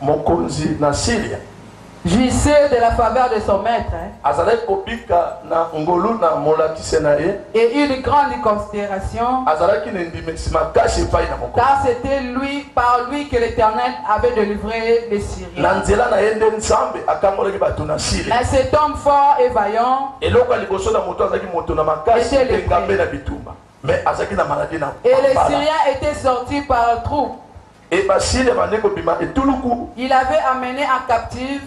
Mokonzi na Siria. Jouissait de la faveur de son maître. Azalaki kobika na ngolu na molakisi na ye. Et eut de grandes considérations. Azalaki na endimisi makasi epai na mokonzi. Car c'était lui, par lui que l'Eternel avait delivré les Syriens. Na nzela na ye nde Nzambe akangolaki bato na Siria. Mais cet homme fort et vaillant. Eloko ya liboso na moto azalaki moto na makasi Était mpe lepreux. engambe na bitumba. Mais azalaki na maladie na Et les balabala. Syriens étaient sortis par troupes. Et bacille ebandi kobima etuluku. Il avait amener en captive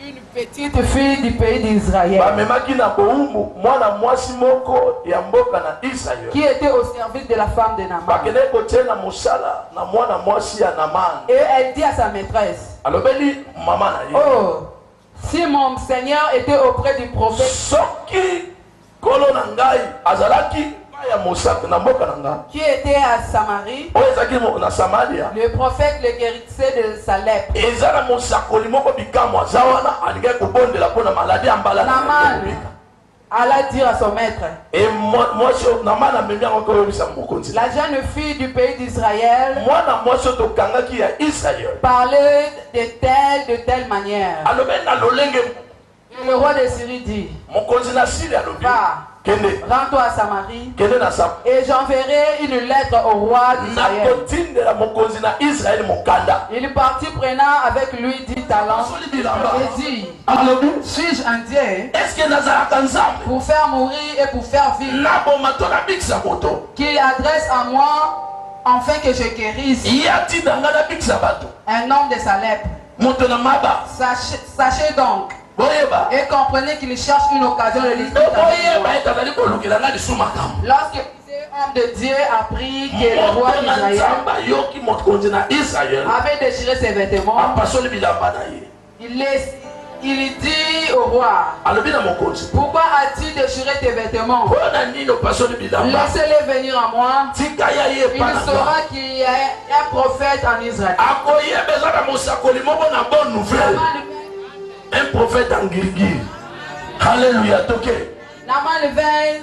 une petite fille du pays d'Israël. Bamemaki na bowumbu mwana mwasi moko ya mboka na Israël. Qui était au service de la femme de Naaman. Bakende kotie na mosala na mwana mwasi ya Naaman. Et elle dit à sa maîtresse. Alobeli mama na ye. Oh. Si mon Seigneur etait auprès du prophète. Soki nkolo na ngai azalaki epai ya mosakoli na mboka na ngai. Qui était à Samarie. Oyo ezalaki na Samalia. Le prophète le guerissait de sa lèpre. Eza na mosakoli moko bikamwa aza wana alingaki kobondela mpo na maladi ya mbala na ye. Alla dire à son maître. Et mwasi oyo na mana amemi yango koyebisa mokonzi. La jeune fille du pays d'Israël. Mwana mwasi oyo tokangaki ya Israël. Parler de telle de telle manière. Alobi na lolenge. Et le roi de Syrie dit. Mokonzi na Syrie alobi. Va. Rends-toi à Samarie. Et j'enverrai une lettre au roi d'Israël. Il partit prenant avec lui dix talents et dit Alobi, suis-je un Dieu? Est-ce que nazalaka Nzambe? Pour faire mourir et pour faire vivre. Naboma to nabikisa moto. Qu'il adresse à moi enfin que je guérisse. Ye atinda nga nabikisa bato. Un homme de sa lèpre. Moto na maba. Sachez, sachez donc. Boyeba. Et comprenez qu'il cherche une occasion de lui. Boyeba et azali kolukela nga lisusu makambo. Lorsque homme de Dieu a pris que le roi d'Israël avait déchiré ses vêtements. Il les il dit au roi. alobi na mokonzi Pourquoi as-tu déchiré tes vêtements? mpo na nini opasoli bilamba Laissez-les venir à moi. tika ya ye epai Il na nga saura qu'il y a un prophète en Israël. akoyeba eza na mosakoli moko na bonne nouvelle Naman un prophète en ngirigiri haleluya toke Naman vint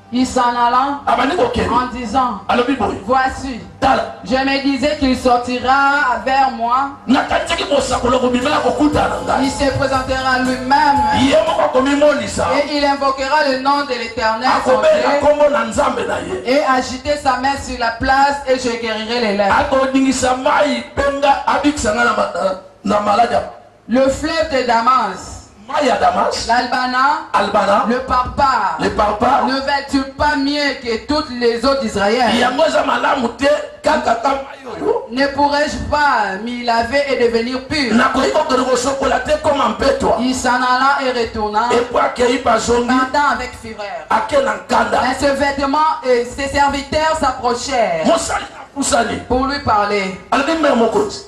Il s'en alla abandi kokende en disant, alobi boye Voici, tala je me disais qu'il sortira vers moi, nakanisaki kosakola kobima ya kokutana na ngai il se présentera lui-même ye moko akomimonisa et il invoquera le nom de l'Éternel son akobela Dieu nkombo na nzambe na ye et agiter sa main sur la place et je guérirai les lèpres. akodingisa mai mpe nga abikisa ngai na ma- na- na maladi ya Le fleuve de Damas. Mai ya Damas. L'Albana. Albana. Le Parpar. Le Parpar. Ne vas-tu pas mieux que toutes les eaux d'Israël? Yango eza malamu te kaka ka mai oyo. Ne pourrais-je pas m'y laver et devenir pur? Nakoki kokende kosokola te koma mpetwa. Il s'en alla et retourna. Epo akei bazongi. Pendant avec fureur. Ake na nkanda. Mais ce vêtement et ses serviteurs s'approchèrent. Mosali apusani. Pour lui parler. Alobi mère mokonzi.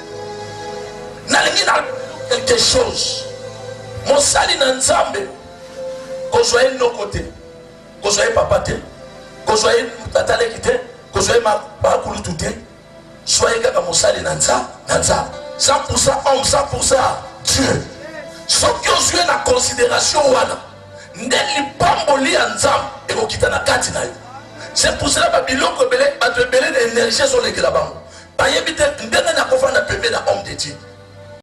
nalingi na quelque chose mosali na nzambe kozwa ye noko te kozwa ye papa te kozwa ye tata leki te kozwa ye bakulutu te zwa ye kaka mosali na nza na nza 100 pourcent homme 100 pourcent dieu soki ozwi ye na considération wana nde lipamboli ya nzambe ekokita na kati na yo c'est pour cela babiloko ebele bato ebele na énergie ezolekela bango Bayebi te ndenge na kofanda pembe na homme de Dieu.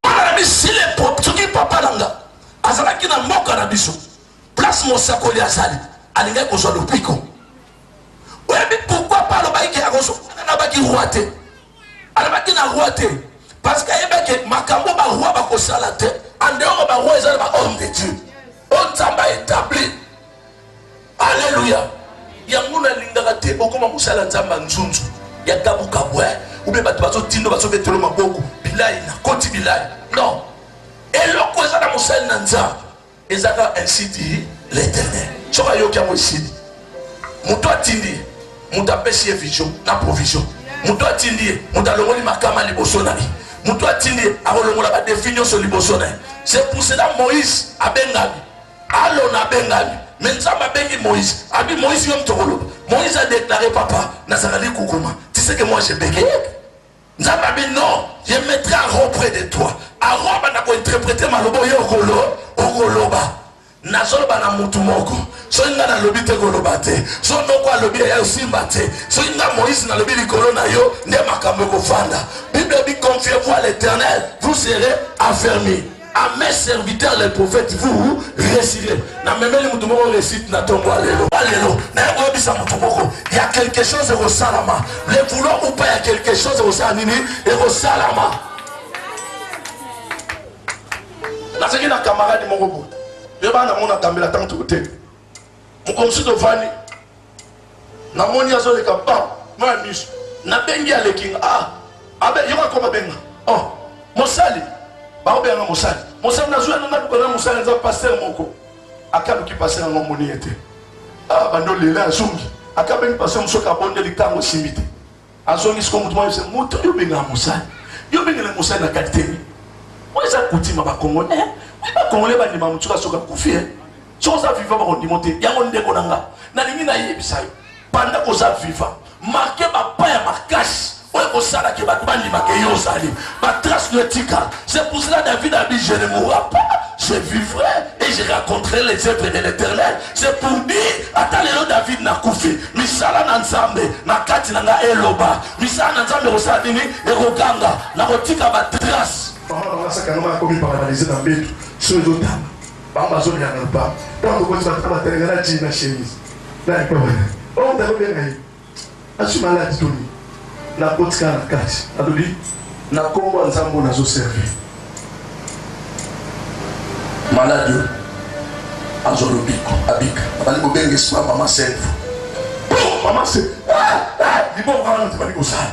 Mwana na biso il est propre soki papa na nga azalaki na mboka na biso place mosakoli azali alingaki kozwa lopiko. Oyebi pourquoi pa alobaki ke akozwa alobaki roi te alobaki na roi te parce que ayebaki ke makambo baroi bakosala te andeoko baroi eza na ba homme de Dieu oyo nzambe aetablir Alleluia. Yango na lingaka te bokoma musala nzamba nzunzu ya kabu kabu eh ou bien bato bazo tindo bazo betelo maboko bilayi na koti bilayi non eloko eza na mosali na nzambe ezaka ainsi dit l'éternel soki ayoki yango esili moto atindi ye moto apesi ye vision na provision moto atindi ye moto alongoli makama liboso na ye moto atindi ye akolongola badefi nyonso liboso na ye c'est pour cela moïse abengami Alona abengami me nzambe abengi moïse abi moïse yo moto okoloba moïse adeklare papa nazalali kukuma tiseke moi je bege nzambe abi non ye metre aro près de toi aro abanda kointerprete maloba oyo okolo okoloba nazoloba na motu moko soki ngai nalobi te koloba te so noko alobi eya osimba te soki ngai moïse nalobi likolo na yo nde makambo ekofanda bible ebi confiez vous à l'éternel vous serez affermi A mes serviteurs les prophètes vous réussirez. Na memeli mutu moko réussite na tongo alelo. Alelo, na yako yebisa mutu moko, il y a quelque chose au salama. Le vouloir ou pas il y a quelque chose au salini et au salama. Na seki na camarade moko bo. Yeba na mona tambela tango te. Mukomsu to vani Na moni azo leka pa moi ya miso na bengi aleki nga ah abe yoka ko babenga oh mosali ba obenga mosali mosali na zuwa na ko na mosali nza pasteur moko akalu ki pasteur ngo moni ete ah bando lela zungi akabengi pasteur musoka bonde likango simite Azongi siko mutu mwa yose mutu yo benga musali. Yo benga na musali na kati temi. Oyo eza kutima ba Congolais. Eh, oui ba Congolais ba ndima mutu ka soka kufi. Eh. Soka za viva ba kondimo te. Yango ndeko na nga. Na lingi na yebisa yo. Panda ko za viva. Marquer ba pa ya marquage. Oyo ko sala ke ba bandi ba ke yo sali. Ba trace de tika. C'est pour cela David a dit, je ne mourrai pas, je vivrai et je raconterai les œuvres de l'éternel. C'est pour dire, ata lelo David na kufi, misala na nzambe, na kati na nga eloba, misala na nzambe kosala nini, ekoganga, na kotika ba trace. Mama banga saka noma akomi paralise na mbetu, so ezotana, bango bazoliana lupango, ntango kokosi batata batelengana tii na chemise, na ekobana, oyo ntakobenga ye. Nazwi maladi to nini? Nakotikala na kati. Nalobi, Na Nkombo ya Nzambe oyo nazo servir, maladi oyo azwa lobiko, abika. Nabandi kobenga esprit ya Mama Sèvres. Boum! Mama Sèvres, Ah! Ah! Liboma wana nde ebandi kosala.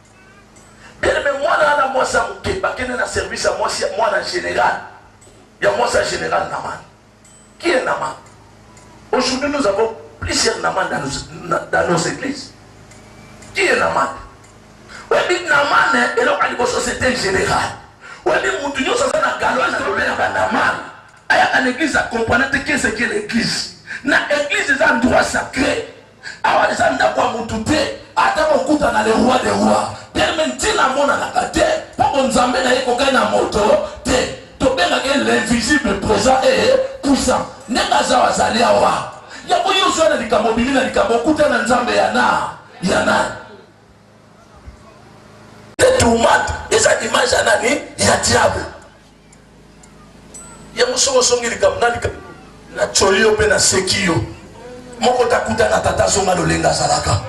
Bien aime mwana wana mwasi ya moke bakende na service ya mwasi mwana general ya mwasi ya general Naman. Qui est Naman? Aujourd'hui nous avons plusieurs Naman dans nos, dans nos églises. Qui est Naman? Webi Naman eloko ya liboso c'était general. Webi mutu nyonso aza na galwa na lobela ba Naman. Ayaka na église akomprana te qu'est-ce que l'église. Na église eza endroit sacré. Awa eza ndaku ya mutu te ata bokuta na le roi de roi te me ntina amonanaka te mpo bonzambe na ye kokani na moto te tobengaka ye l'invisible présent e puissant ndenge azawa azali awa yango yo ozwa na likambo obimi na likambo okuta na nzambe ya na ya nani tourmente eza image ya nani ya diable Yango soki ozongi likambo na likambo natyoli yo mpe naseki yo moko takuta na tata azonga lolenge azalaka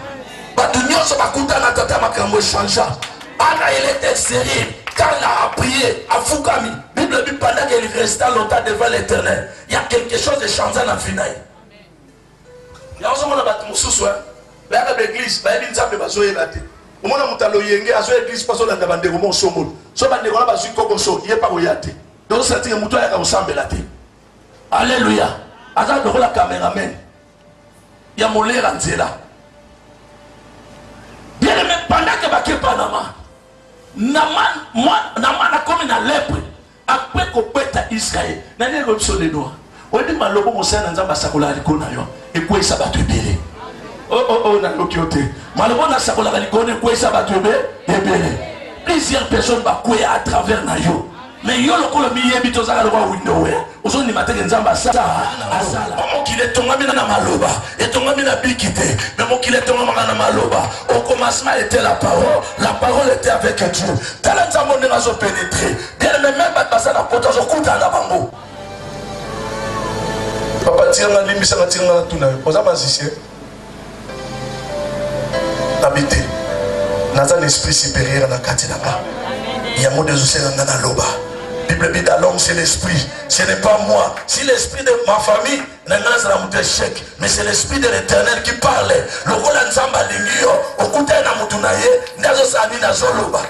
bato nyonso bakuta na tata makambo echangea ana elete serie carla aprie afukami bible bipandaki il resta longtemps devant l'éternel ya quelque chose echangea na vi na ye Yango ozo mona batu mususu hein bayaka ba eglise bayebi nzambe bazo yeba te omona moto ya loyenge azoya eglise mpo azolanda bandeko mo osombolo so bandeko wana bazwi kokoso ye mpe akoya te dosatike moto ayaka kosambela te alleluya aza lokola cameraman ya molera nzela bien aime pendant ke bake panama nama akomi na lepre Après kobeta Israël, nani ayebi biso lelo awa? Oyebi maloba mosali na Nzambe asakolaka likolo na yo ekweyisa bato ebele. Oh oh oh, nayoki yo te. Maloba oyo nasakolaka likolo na ekweyisa bato ebe ebele. Plusieurs personnes bakweya à travers na yo. Mais yo lokola miyebi tozalaka lokola window eh. ozondima te ke Nzambe asala asala. Mokili etongami na maloba, etongami na biki te, mais mokili etongamaka na maloba. Au commencement était la parole, la parole était avec Dieu. Tala nzambo ndenge azo pénétrer. Bien mais même bato baza na poto azo kuta na bango. Papa tiranga limbisa na tiranga na tuna. Oza magicien. Habité. Naza l'esprit supérieur na kati na ba. Yango dezo sela na loba. Bible dit l'homme c'est l'esprit. Ce n'est pas moi. Si l'esprit de ma famille na ngai nazala moto echec mais c'est l'esprit de l'éternel qui parle lokola nzambe alingi yo okutani na motu na ye nde azosala nini azoloba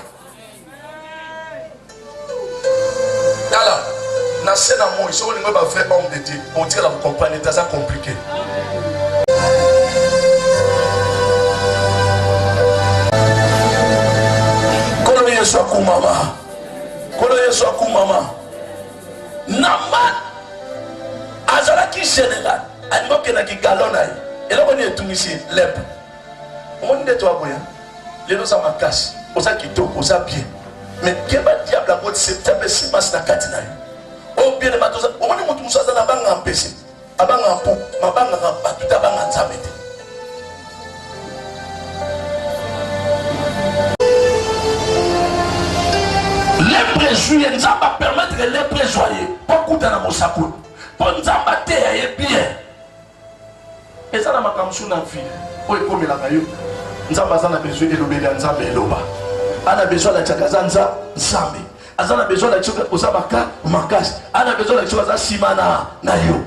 tala na se na moi soki olingi ba vrai homme de dieu otikala kocomprendre ete aza compliqué kolo yesu akumama kolo yesu akumama naman azalaki general alingi okendaki galon na ye eloko nini etungisi lepre omoni nde toaboya lelo oza makasi oza kitoko oza bien me keba diable yango septembre esimasi na kati na yo obielema omoni motu mosusu aza na banga mpese Abanga mpo mabangaka bato te abanga Nzambe te. Lepre ezwi ye, Nzambe apermettre lepre ezwa ye mpo akuta na mosakoli, mpo Nzambe ateya ye bien. Eza na makambo mosusu na vie oyo ekomelaka yo, Nzambe aza na besoin elobeli ya Nzambe eloba, ana besoin alakisaka aza Nzambe. aza na besoin na kisoka oza maka makasi ana besoin na kisoka aza nsima na na yo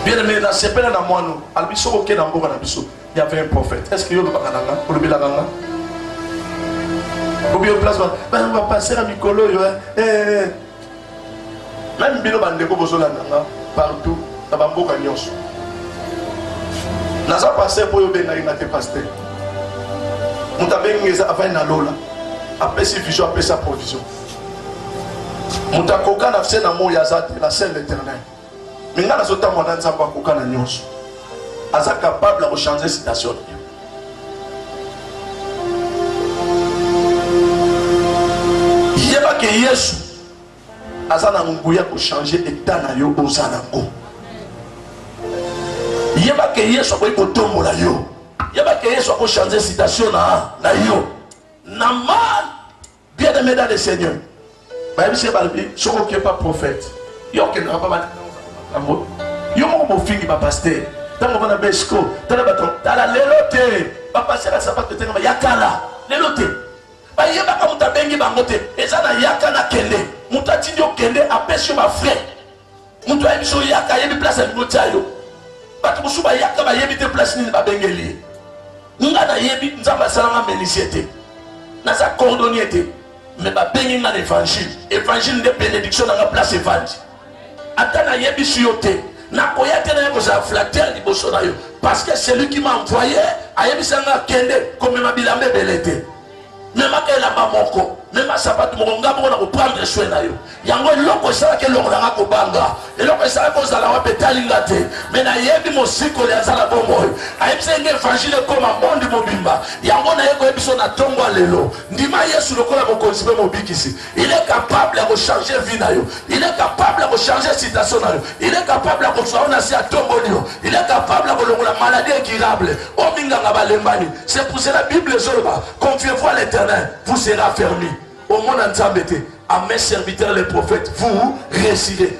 bien aimé nasepela na mwano alobi soki okei na mboka na biso y avait un prophète est ce que yo olobaka na nga olobelaka nga obi yo place bapassera mikolo oyo eh, eh, eh. Meme bino ba ndeko bozo landa nga partout na ba mboka nyonso. Naza pasteur po yo benga inga te pasteur. Muta benga eza avant na lola. Apesi vision apesa provision. Muta koka na fse na moya za te la seule éternelle. Mais nga nazo tambola na Nzambe akoka na nyonso. Aza capable ya ko changer situation. Yeba ke Yesu aza na nguya ko changer état na yo oza na ngo. Yeba ke Yesu akoki kotombola yo. Yeba ke Yesu ako changer situation na na yo. Na mal Bien aimé dans le Seigneur. bayebisi ye balobi soki oke pa prophète yo okendaka pa batango yo moko bofingi bapaster ntango vana besco tala bato tala lelo te bapasera sapato etengama ya kala lelo te bayebaka moto abengi bango te eza na yaka na kende moto atindi okende apesi yo bafrai Mutu ayebi yaka ayebi place alingi otia yo. Bato mosusu bayaka bayebi te place nini babengeli ye. Nga nayebi Nzambe asalanga menuisier te. Naza cordonnier te. Me babengi nga na evangile. Evangile nde benediction na nga place evandi. Ata nayebisi yo te. nakoya te naye kozala flateur liboso na yo parce que celui qui m'a envoyé ayebisa nga kende komema bilamba ebele te mema elamba moko mema sapatu moko nga moko na koprendre soin na yo yango eloko esalaki eloko na nga kobanga eloko esalaki kozala wapi etali nga te me nayebi mosikoli aza na bomoi ayebisa enge evangile ekoma mondi mobimba yango naye koyebiso na ntongo ya lelo ndima yesu lokola mokonzi mpe mobikisi Il est capable ya kochanger vie na yo. Il est capable ya kochanger situation na yo. Il est capable ya kozwa yo na se atomboli yo. Il est capable ya kolongola maladie incurable. Oyo minganga balembani. C'est pour cela Bible ezoloba, confiez-vous à l'Éternel, vous serez affermi. Omona Nzambe te. À mes serviteurs les prophètes, vous réussirez.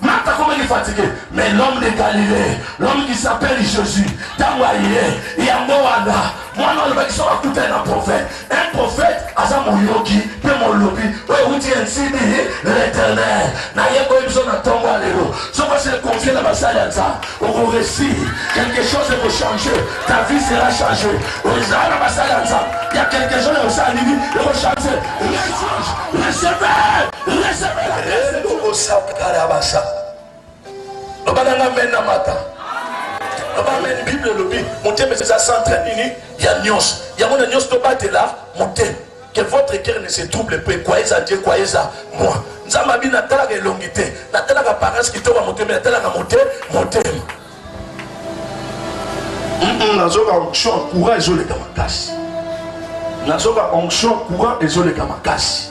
Marthe akomaki fatigue mais l'homme de Galilee l'homme qui s'appelle Jésus ntango aye yango wana mwana alobaki soki akutani na prophète un prophète aza moyoki mpe molobi oyo euti ensidi l'éternel naye koyi biso na ntongo ya lelo soki ose confie na basali ya nzambe okoresi quelque chose ekochange ta vie sera change ozala na basali ya nzambe ya quelque chose ekosala nini ekochange rechange receveur Recevez la grâce de Dieu. Osakarabasa. Loba na nga mena mata. Loba amen. Bible elobi motema eza centre ya nini ya nyonso. Yango na nyonso tobatela motema. Que votre cœur ne se trouble pas. Croyez en Dieu, croyez en moi. Nzambe abi natalaka elongi te. Natalaka parence kitoko ya motema, natalaka mote motema. Nazoka onction ya courant ezoleka makasi. Nazoka onction ya courant ezoleka makasi.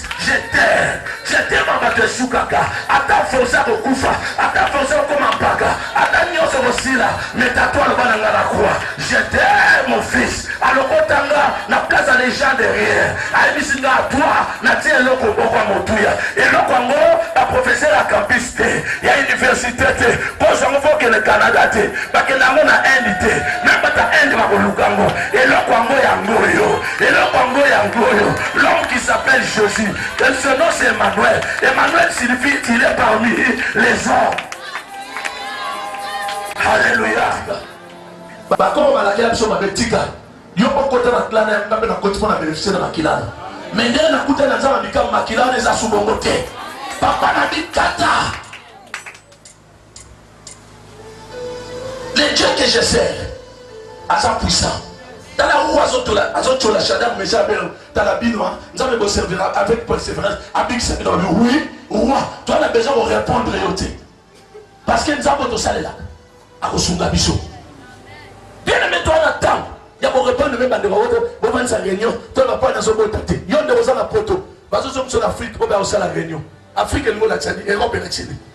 Je t'aime, je t'aime en bato esukaka ata force ya kokufa ata force ya kokoma mpaka ata nyonso kosila metato aloba na ngai na kwa je t'aime mon fils alokota nga na place ya legend de rien ayebisi nga atwa natie eloko moko ya motuya eloko yango baprofesseur ya campus te ya université te kozo yango fokende canada te bakende yango na inde te meme bata inde bakoluka yango eloko yango yango oyo Eloko yango yango oyo l'homme qui s'appelle Jésus et ce nom c'est Emmanuel. Emmanuel signifie il est parmi les hommes. Alléluia. Bakoma balakela biso mabe tika yo okota na clan ya ngambe na koti mpo na beneficie na makila na me nde nakuta na nzambe mikama makila wana eza subongo te papa na bikata Le Dieu que je sers aza puissant. tala oyo azotyola shadar mesa abel tala bino hein. nzambe boservira avec persévérance abikisa bino babi oui roi toi na besoin korépondre yo te parce que nzambe tosalelaka akosunga biso bien aimé toi na ntango ya korépondre mpe bandeko oyo bovandisa réunion to bapoi nazobota te yo nde oza na poto bazozongisa na afrique oyo bayakosala réunion afrique elingi olakisa ni europe elakisi ni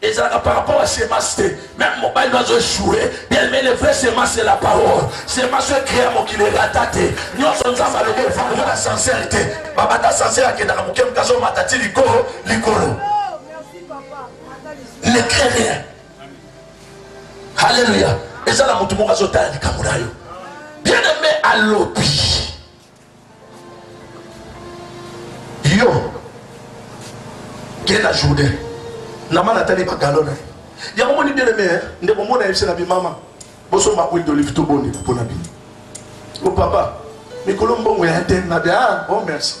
Ezalaka par rapport à semence te. Même mobali no azo echouer bien mais le vrai semence c'est la parole. Semence oyo créa mokili erata te. Nyonso Nzambe alobi efandi na sincère te. Babanda sincère akendaka moke moke azomata ti likolo likolo. Ne crée rien. Alléluia. Eza na moto moko azotala likambo na yo. Bien aimé alobi yo kenda jourdain nama natali bagalo na ye yango moni bien aime eh? ndeko mona yebisi na bimama bosomba huile d'olive to boni mpo na bino o oh, papa mikolo mbongo ya te na bia ah, o oh, merci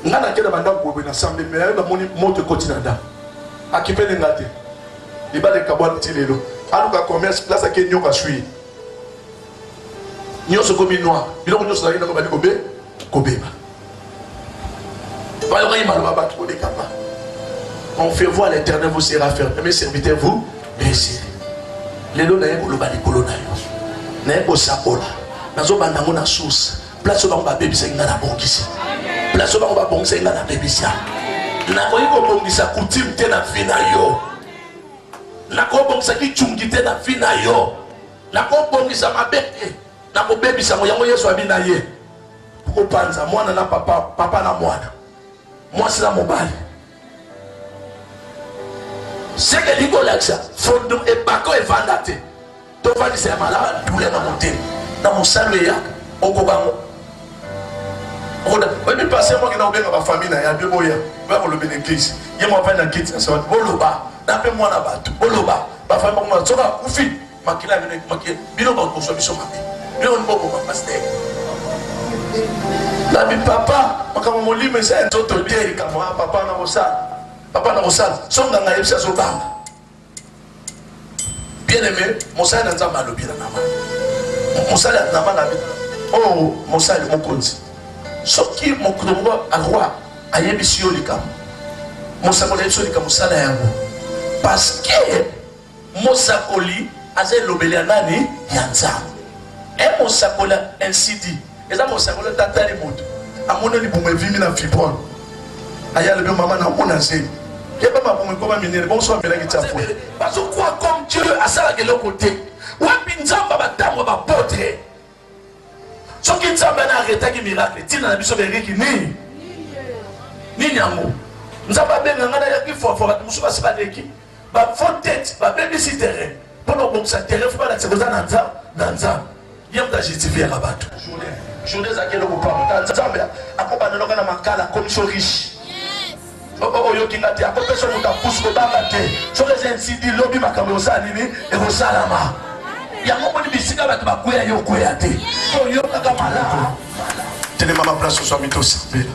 ngai nakenda bandako boyeboye na sambe me yayo namoni moto ekoti na ndako akipele nga te libala ekabwani ti lelo aluka commerce place ake nyoka swi nionso ekomi noir biloko nionso nazalaki nango bandi kobe kobeba bayokaki maloba bato kolekama on fait voir l'éternel vous sera ferme mes serviteurs vous merci lelo naye koloba likolo na yo naye kosakola nazobanda yango na source place oyo bango babebisaki ngai nabongisa place oyo bango babongisaki ngai nabebisa nakoki kobongisa kutime te na vi na yo nakobongisa kicungi te na vi na yo Nakobongisa mabe te, nakobebisa yango. Yango Yesu abi na ye kopanza mwana na papa, papa na mwana, mwasi na mobali. Seke elingi kolakisa fondo ebako evanda te, tovandisa ya malaba dule na motema na mosalo eyaka okobango oyebi pasi ya mwaki na kobenga bafamille na ya mpe boya oya koloba na eglise ye mwa pai na kiti na sabati boloba na mpe mwana bato boloba Bafandi bakomona soki akufi makila bino ekumaki bino bakoswa biso mabe bino ni boboma pastere na bipapa makambo molimo eza ya nzoto te likambo ya papa na kosala papa na kosala so nganga yebisi azobanga bien aime mosali na nzambe alobi na nama mosali ya nama na bino oyo oh, mosali mokonzi soki mokolo moko arwa Ayebisi yo likambo. Mosakoli ayebisi yo likambo, sala yango. Parce que mosakoli aza elobeli ya nani? Ya Nzambe. E mosakoli ainsi dit. Eza mosakoli tatali moto. Amoni libumu evimi na fibrone. Aya lobi mama na mona zemi. Yeba mabumu ekoma minene. Bonso amelaki tsapo. Bazo kwa comme Dieu asalaka eloko te. Wapi Nzambe batangwa ba potre. soki nzambe na arretaki miracle ntina na biso beriki nini nini yango nzambe abenga ngai nayaki fwafwa bato mosusu basi baleki bafaux tete babebisi terrain mpo na kobongisa terrain fo balakisa koza na nzambe na nzambe ye moto ajustifiaka bato journée ezalaki eloko pamata nzambe akobandanoka na makala akomiso riche Oh, oh, oyoki nga te akopesa moto apusu kobanga te soki eza nsidi lobi makambo ekosala nini ekosalama yango moni bisika bato bakweya yo okweya te oyokaka malamu telema ma place ozwami tosambela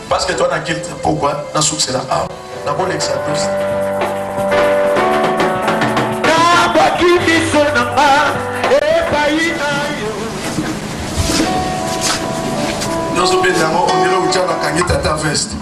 parce que toi na kilte pokwa na succès na awa nakolekisa tosi nabwaki miso na nga epai na yo nyonso mpe yango ondele otya bakangi tata veste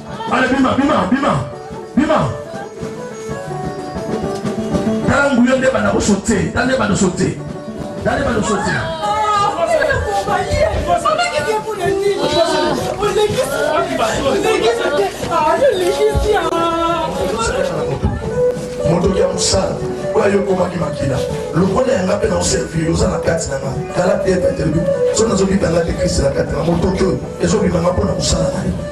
Ale bima bima bima bima. Tala nguyo nde bana kosote, tala nde bana sote. Tala nde bana sote. motoki ya mosala oyo ayokomaki makila lokola yanga mpe naoservir oza na kati na nga tala pete atelemi so nazobibanga te kriste na kati na motoki oyo ezobimanga mpo na kosala na ye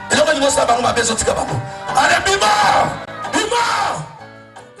Eloko nini bosa bango mabe ezotika bango. Allez bima! Bima!